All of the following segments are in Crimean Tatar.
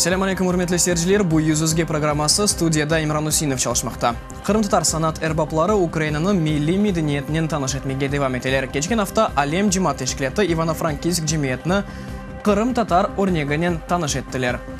Selâm aleyküm, ürmetli seyirciler! Bu Yüz Üzge programması, studiyada İmran Üseinov çalışmaqta. Qırımtatar sanat erbapları Ukrainanı milliy medeniyetinen tanış etmege devam eteler. Keçken afta Alem cemaat teşkilâtı İvano-Frankivsk cemiyetini Qırımtatar örneginen tanış ettiler.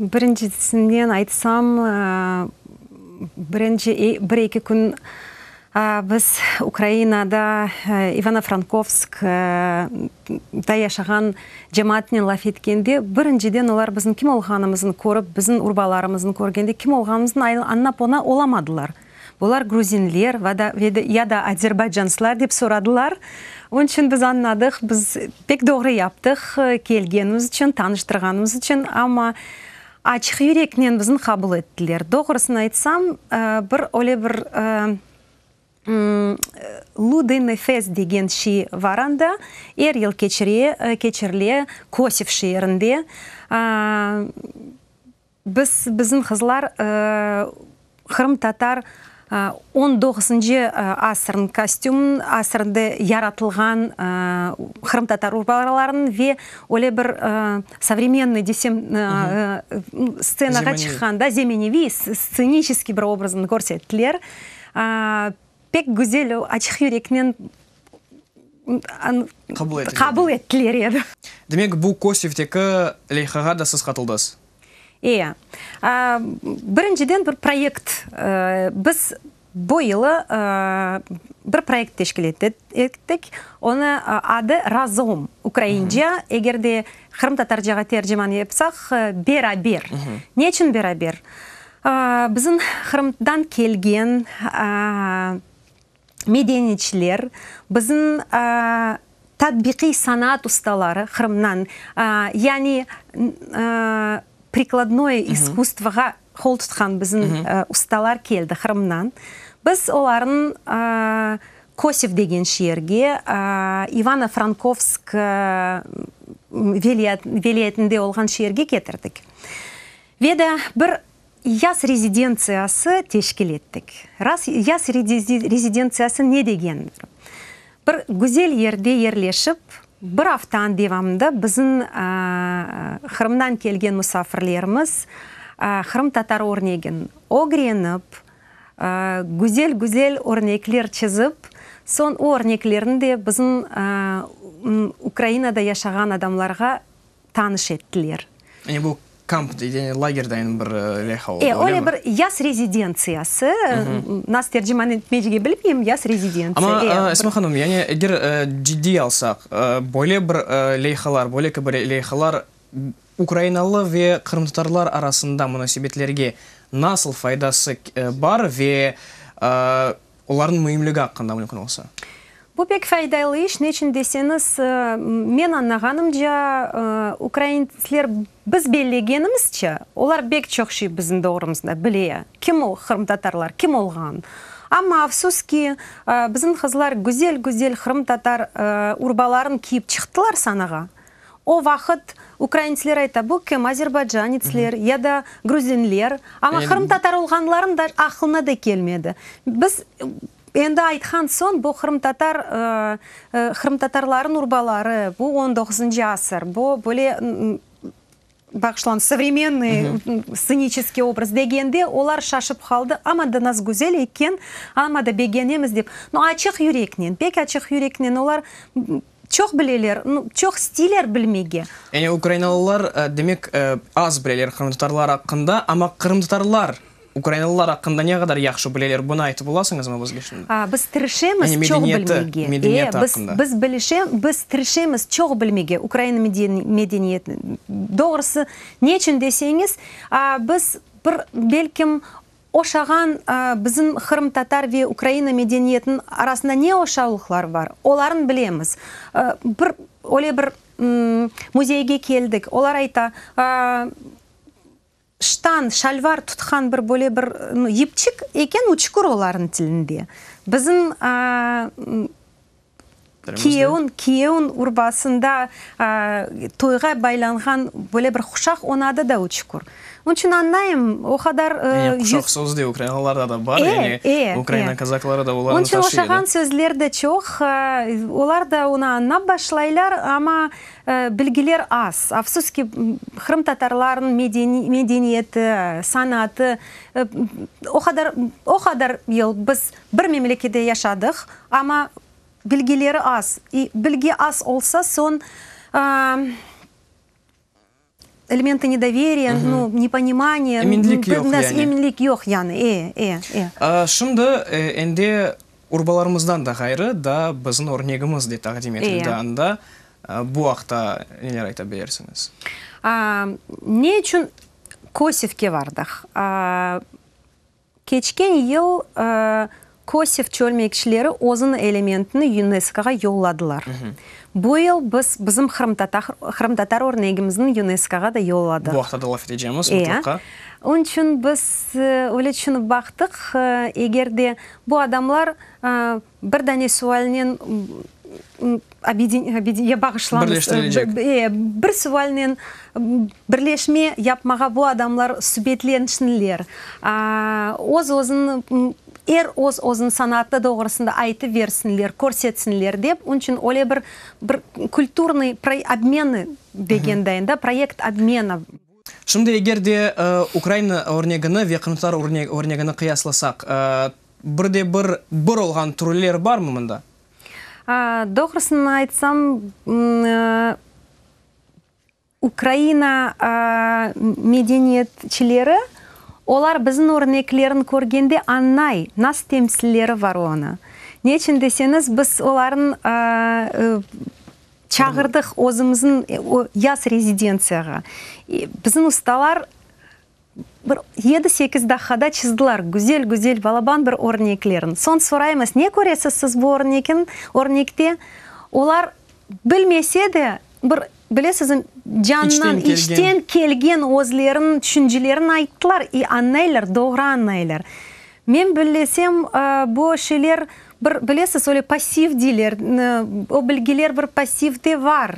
Birincisinden aytsam, birinci bir-eki kün biz Ukrainada, İvano-Frankovsk da yaşağan cemaatnen laf etkende, birinciden olar bizim kim olğanımızın körip, bizim urbalarımızın körgende kim olğanımızın añlap oña olamadılar. Bular gruzinler ya da azerbaycanslar dep soradılar. Onıñ içün biz añladıq, biz pek doğru yaptıq, kelgenimiz içün, tanıştırğanımız içün. Amma açıq yüreknen bizni qabul ettiler. Doğrusını aytsam, bir öyle bir Ludiy nefes degen şey bar anda, er yıl keçirile Kosif şeerinde. Biz, bizim qızlar, qırımtatar on doğuzıncı asırnıñ kostümın, asırda yaratılğan qırımtatar urbalarınıñ ve öyle bir sovremennoy desem, stsenağa çıqqanda, zemeneviy, stsenişeskiy bir obrazını körsettiler. Pek güzel, açıq yüreknen qabul ettiler edi. Demek, bu KOSİVteki leyhağa da siz qatıldız? E, birinciden bir proyekt, biz bu yılı bir proyekt teşkil ettik, onı adı Razom, ukraince, eger de qırımtatarcağa terciman yapsaq, beraber. Ne içün beraber? Bizim Qırımdan kelgen medeniyçiler, bizim tatbiqiy sanaat ustaları Qırımdan, yani prikladnoye iskustvoğa qol tutqan bizim ustalar keldi Qırımdan. Biz olarnı Kosif degen şeerge, İvano-Frankovsk vilâyetinde olğan şeerge ketirdik. Ve de bir yaz rezidentsiyası teşkil ettik. Raz, yaz rezidentsiyası ne degendir? Bir güzel yerde yerleşip, bir aftanıñ devamında bizim, Qırımdan kelgen musafirlerimiz, qırımtatar örnegin ögrenip, güzel-güzel örnekler çizip, soñ o örneklerni de bizim Ukrainada yaşağan adamlarğa tanış ettiler. Yani bu kamp değil, yani lager deyin bir leha oldı, öyle mi? Öyle bir yaz rezidentsiyası, nasıl terciman etmecege bilmeyim, yaz rezidentsiya. Ama Esma hanım, yani eger ciddiy alsaq, böyle bir lehalar, böyle ki böyle lehalar ukrainalı ve qırımtatarlar arasında munasebetlerge nasıl faydası bar ve Olarnıñ müimligi aqqında mümkün olsa. Bu pek faydaylı iş, neçün deseñiz, men añlağanımca, ukraintler biz bellegenimizçe, olar bek çoq şey bizim doğrumızda bile, kim o qırımtatarlar, kim olğan. Amma afsus ki, bizim qızlar güzel-güzel qırımtatar urbalarını kiyip çıqtılar sanağa, O vaqıt ukraintsler ayta, bu kim, azerbaycanitsler ya da gruzinler, amma qırımtatar olğanların da aqlına da kelmedi. Biz endi aytqan soñ, bu qırımtatar, qırımtatarların urbaları, bu on doquzıncı asır, bu böyle, Bağışlañ, sovremennıy sceniçeskiy obraz, degende, olar şaşıp qaldı, amma da nazgüzel eken, amma da begenemiz dep, no açıq yüreknen, pek açıq yüreknen olar çoq bileler, çoq isteler bilmege. Yani ukrainalılar, demek, az bileler qırımtatarlar aqqında, amma qırımtatarlar. Ukrainalılar aqqında ne qadar yahşı bileler, bunı aytıp olasıñızmı bizge şimdi? A, biz tırışemiz Yani çoq medeniyeti, bilmege. medeniyeti E, biz, aqqında. biz bilişe, biz tırışemiz çoq bilmege Ukraina meden, medeniyetini. Doğrusı, ne içün deseñiz, a, biz bir, belkim, oşağan, a, bizim qırımtatar ve Ukraina medeniyetiniñ arasında ne oşavlıqlar bar, olarnı bilemiz. A, bir, öyle bir, m, müzeyge keldik, olar ayta, a, Ştan, şalvar, tutqan bir böyle bir yipçik eken, o çukur olarnıñ tilinde. Bizim kiyevniñ, kiyevniñ urbasında toyğa baylanğan böyle bir quşaq, onıñ adı da o çukur. Onıñ içün añlayım, o qadar. Yani quşaq sözü de ukrainalarda da bar, yani ukraina kazakları da olarnı taşıy edi. Onıñ içün oşağan sözler de çoq, olar da onı añlap başlaylar, amma. Bilgiler az. Afsus ki, qırımtatarlarnıñ medeniyeti, sanatı o qadar, o qadar yıl biz bir memlekette yaşadıq, amma bilgileri az. Bilgi az olsa, soñ Elementi nedoveriya, no, neponimaniye. Eminlik yoq yani. Eminlik yoq yani, e, e, e. Şimdi endi urbalarımızdan da ğayrı da bizim örnegimiz de taqdim etildi anda, bu aqta neler ayta bilirsiñiz? Ne içün Kosivke bardıq? Keçken yıl Kosev çölmekçileri özüni elementini YUNESKOğa yolladılar. Bu yıl biz bizim qırımtatar örnegimizni YUNESKOğa da yolladıq. Bu aqta da laf etecemiz, mutlaqa. Onıñ içün biz öyle tüşünip baqtıq, eger de bu adamlar Bir dane sualnen obye, bağışlañız. Birleştirilecek. Ee, bir sualnen birleşme yapmağa bu adamlar subetlensinler. Öz-özüni, er öz-özüni sanaatı doğrusında aytıversinler, körsetsinler dep, onıñ içün öyle bir, bir kulturnıy obmeni degendayım da, proyekt obmena. Şimdi eger de Ukraina örnegini ve Qırımtatar örnegini qıyaslasaq, bir de bir bir olğan türler barmı mında? Doğrusını aytsam, Ukraina medeniyetçileri, olar bizim örneklerin körgende añlay, nasıl temsilleri var onı. Neçün deseñiz, biz olarnıñ Çağırdıq özümizin o yaz rezidentsiyağa. Bizim ustalar bir yedi-sekiz daqqada çizdiler güzel-güzel balaban bir örneklerin. Soñ soraymız, ne köresiz siz bu örnekin, örnekte? Olar bilmese de, bir bilesiz, candan, içten kelgen özleriniñ tüşüncelerin ayttılar, i añlaylar, doğru añlaylar. Men billesem, bu şeyler bir, bilesiz, öyle passiv deyler, o bilgiler bir passivde var.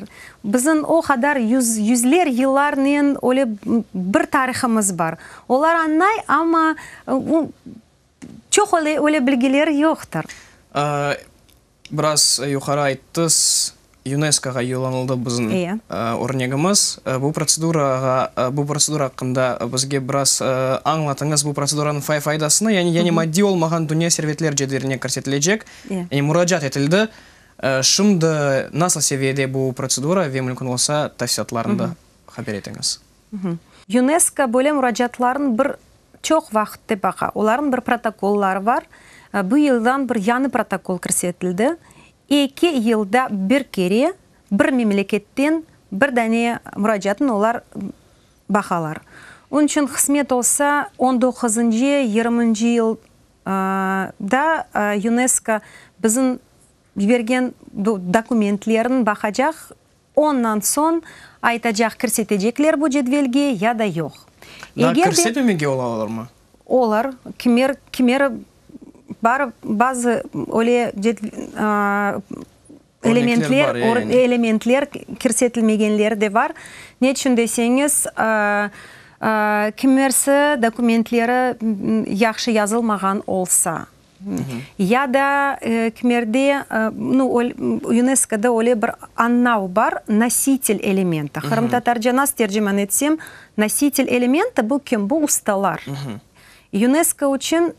Bizim o qadar yüz, yüzler yıllarnen öyle bir tarihımız bar. Olar añlay, amma çoq öyle, öyle bilgiler yoqtır. Biraz yuqarı ayttız, UNESKOğa yollanıldı bizim örnegimiz. Bu protsedurağa, bu protsedura aqqında bizge biraz añlatıñız, bu protseduranıñ faydasını, yani, yani maddiy olmağan dünya servetler cedveline kirsetilecek, yani muracaat etildi. Şimdi nasıl seviyede bu protsedura ve mümkün olsa, tafsilâtlarından haber etiñiz. UNESCO böyle muracaatlarnı bir çoq vaqıtte baqa, olarnıñ bir protokolları bar. Bu yıldan bir yañı protokol kirsetildi, eki yılda bir kere bir memleketten bir dane muracaatnı olar baqalar. Onıñ içün qısmet olsa, on doquzıncı, yirmiñci yıl da UNESCO bizim yibergen dokumentlerni baqacaq. Ondan soñ aytacaq kirsetecekler bu cedvelge ya da yoq. Eger de. Daa kirsetmemege olalarmı? Olar. Kimer, kimeri bar, bazı öyle elementler, elementler kirsetilmegenleri de bar. Ne içün deseñiz, kimerisi dokumentleri yahşı yazılmağan olsa. Ya da kmerde, nu, UNESKOda öyle bir annav bar, nositel elementi. Qırımtatarca nas terciman etsem, nositel elementi, bu kim? Bu ustalar. UNESKO içün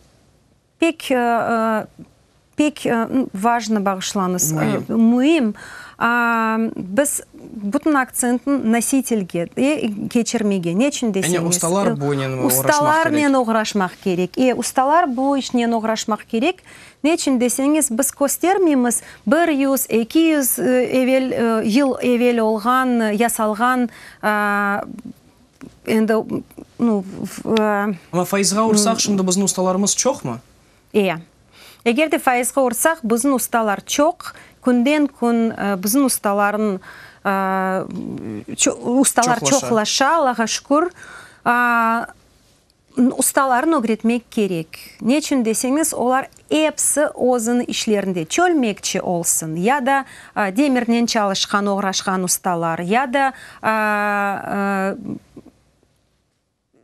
pek, pek vajnı, bağışlanız, müim. Biz. Bütün aktsentni nositelge e, keçirmege. Ne içün deseñiz? Yani ustalar bunen oğraşmaq kerek. Ustalarnen oğraşmaq kerek. E, ustalar bu işnen oğraşmaq kerek. Ne içün deseñiz, biz köstermeymiz bir yüz, eki yüz evel, yıl evel olğan, yasalğan, endi, nu, Amma faizğa ursaq, şimdi bizni ustalarımız çoqmı? Eya. Eger de faizge ursaq, buzın ustalar çoq, künden kün buzın ustaların ustalar çoqlaşa, Allağa şükür. Ustaların ögretmek kerek. Neçün deseñiz, olar episi özüni işlerinde, çölmekçi olsun, ya da demirnen çalışqan, oğraşqan ustalar, ya da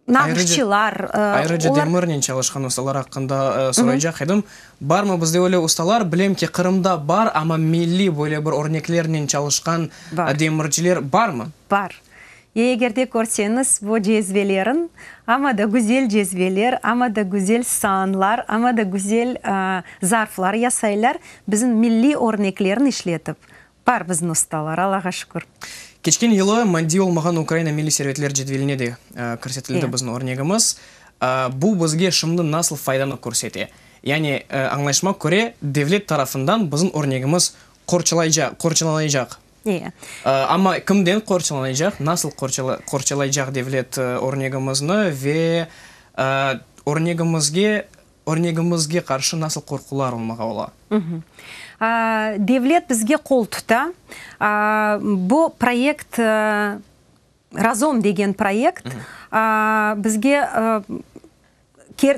nağışçılar, olar. Ayrıca demirnen çalışqan ustalar aqqında soraycaq edim. Barmı bizde öyle ustalar? Bilem ki, Qırımda bar, amma milliy böyle bir örneklernen çalışqan demirciler barmı? Bar. Eger de körseñiz bu cezvelerin, amma da güzel cezveler, amma da güzel saanlar, amma da güzel zarflar yasaylar, bizim milliy örneklerin işletip, Bar bizni ustalar, Allağa şükür. Keçken yılı maddiy olmağan Ukraina milliy servetler cedveline de kirsetildi bizim örnegimiz. Bu bizge şimdi nasıl faydanı körsete? Yani, añlayışıma köre, devlet tarafından bizim örnegimiz qorçalanaycaq. Amma kimden qorçalanaycaq, nasıl qorçalaycaq devlet örnegimizni ve örnegimizge Örnegimizge qarşı nasıl qorqular olmağa ola? Devlet bizge qol tuta. Bu proyekt, Razom degen proyekt, bizge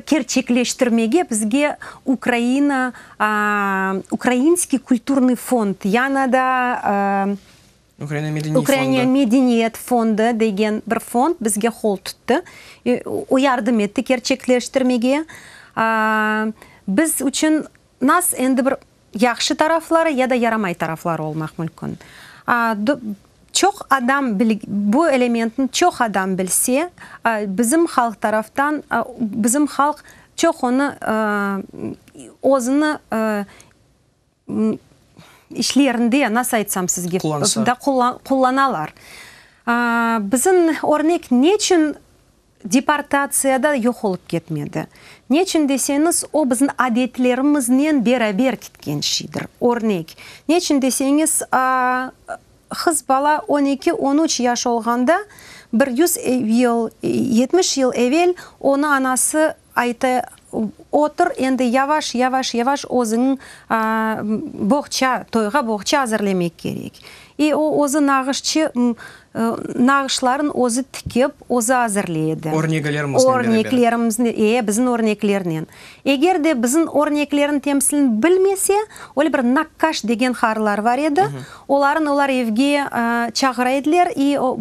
kerçekleştirmege bizge Ukraina, Ukrainskiy kulturnıy fond, yañı da Ukraina medeniyet fondı degen bir fond bizge qol tuttı, o yardım etti kerçekleştirmege. Biz içün nas endi bir yahşı tarafları ya da yaramay tarafları olmaq mülkün. Çoq adam bu elementni çoq adam bilse, bizim halq taraftan, bizim halq çoq onı özüni işlerinde, nasıl aytsam sizge, qullanalar. Bizim örnek neçün deportatsiyada yoq olıp ketmedi? Neçün deseñiz, o, bizim adetlerimiznen beraber ketken şeydir. Örnek, neçün deseñiz, qız bala on eki, on üç yaş olğanda, bir yüz yıl, yetmiş yıl evel onı anası Ayta otur, endi yavaş, yavaş, yavaş özüniñ boğça, toyğa boğça azırlemek kerek. E, o özü nağışçı, nağışların özü tikip, özü azırlay edi. Örnegelermiznen beraber. Örneklerimiznen, e, bizim örneklernen. Eger de bizim örneklerin temsilini bilmese, öyle bir nakkaş degen qarılar bar edi, olarnı olar evge çağıra ediler, i, o,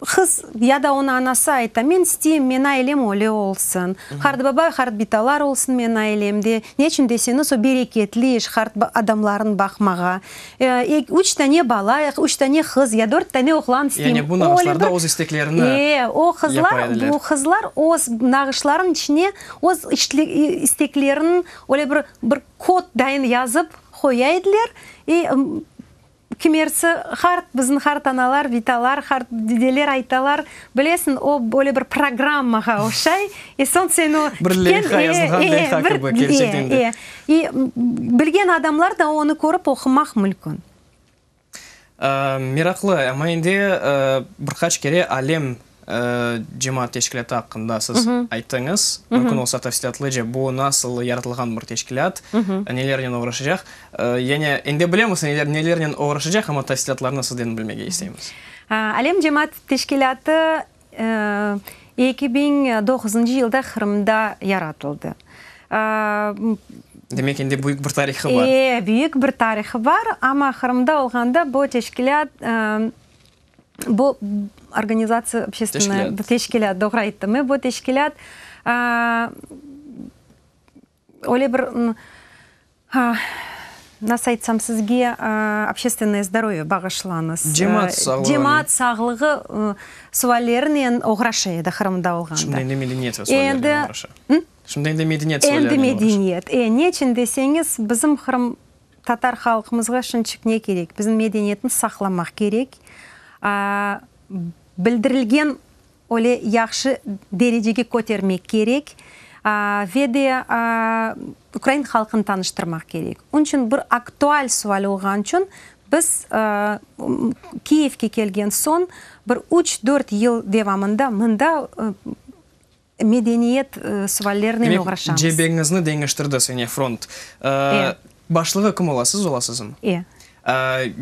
Qız ya da onı anası ayta, men isteyim, men ailem öyle olsun, qartbabay, qartbitalar olsun men ailemde, neçün deseniz, o bereketli iş, qart adamlarnı baqmağa. Üç tane bala, üç tane qız ya dört tane oğlan isteyim. Yani bu nağışlarda öz isteklerini yapa ediler. O qızlar öz nağışlarınıñ içine öz isteklerini öyle bir kod dayın yazıp qoya ediler. Kimersi, Hart, biziñ hart analar, vitalar, hart dideler aytalar, bilesiñ, o, böyle bir programmağa oşay, e, soñ sen o, Bir leyha yazılğan leyha kibi, kerçekten de. E, bilgen adamlar da onı körip oqumaq mülkün. Meraqlı, amma endi bir qaç kere alem Cemaat teşkilâtı aqqında siz ayttıñız. Mümkün olsa tafsilâtlıca, bu nasıl yaratılğan bir teşkilât, nelernen oğraşacaq? Yani endi bilemiz, nelernen oğraşacaq, amma tafsilâtlarnı sizden bilmege isteymiz. Alem cemaat teşkilâtı eki biñ doğuzıncı yılda Qırımda yaratıldı. Demek, endi büyük bir tarihı bar. Ee, büyük bir tarihı bar, amma Qırımda olğanda bu teşkilât, Bu organizatsiya, obşestvennoye, bu teşkilât, doğru ayttım men, bu teşkilât öyle bir, nasıl aytsam sizge, obşestvennoye zdorovye bağışlañız, cemaat sağlığı suallerinen oğraşa edi Qırımda olğanda. Şimdi endi medeniyet suallerinen oğraşa. Şimdi endi medeniyet suallerinen oğraşa. Endi medeniyet, neçün deseñiz, bizim Qırım Tatar halqımızğa şınçık ne kerek? Bizim medeniyetni saqlamaq kerek. Bildirilgen öyle yahşı derecege kötermek kerek. Ve de ukrain halqını tanıştırmaq kerek. Onıñ içün bir aktual sual olğanı içün biz Kiyevge kelgen soñ bir üç-dört yıl devamında mında Medeniyet suvallerinen oğraşamız. Demek, cebeñizni deñiştirdi sene front. Başlığı kim ola, siz olasızmı? E.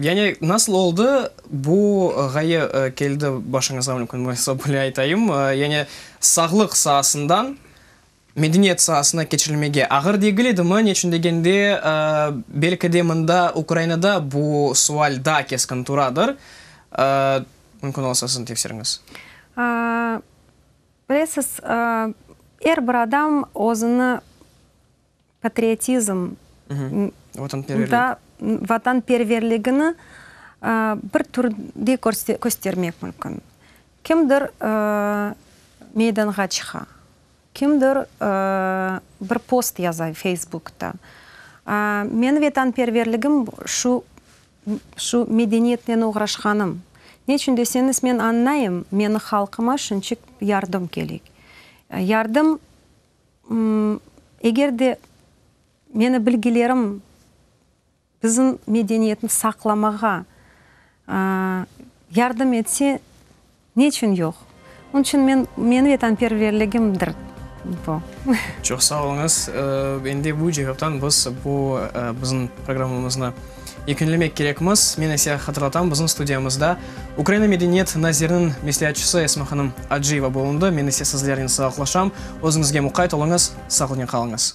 Yani nasıl oldı, bu ğaye keldi başıñızğa, mümkün bolsa böyle aytayım, yani sağlıq saasından medeniyet saasına keçirilmege ağır degil edimi? Ne içün degende, belki de mında, Ukrainada bu suval daa keskin turadır. Mümkün olsa, siziñ tefsiriñiz. Bilesiz, er bir adam özüni patriotizm, vatanperverligini bir türde köstermek mümkün. Kimdir meydanğa çıqa, kimdir bir post yaza feysbukta. Menim vatanperverligim şu Şu medeniyetnen oğraşqanım. Neçün deseñiz, men añlayım, meni halqıma şunçik yardım kerek. Yardım, eger de meni bilgilerim bizim medeniyetni saqlamağa yardım etse, Ne içün yoq? Onıñ içün men, meñ vetanperverligimdir bu. Çoq sağ oluñız. Endi bu cevaptan biz bu bizim programmamıznı yekünlemek kerekmiz. Men ise hatırlatam, bizim studiyamızda Ukraina medeniyet naziriniñ mesleatçısı Esma hanım Acıyeva bulundı. Men ise sizlernen sağıqlaşam. Özüñizge muqayt oluñız, sağlıqnen qalıñız.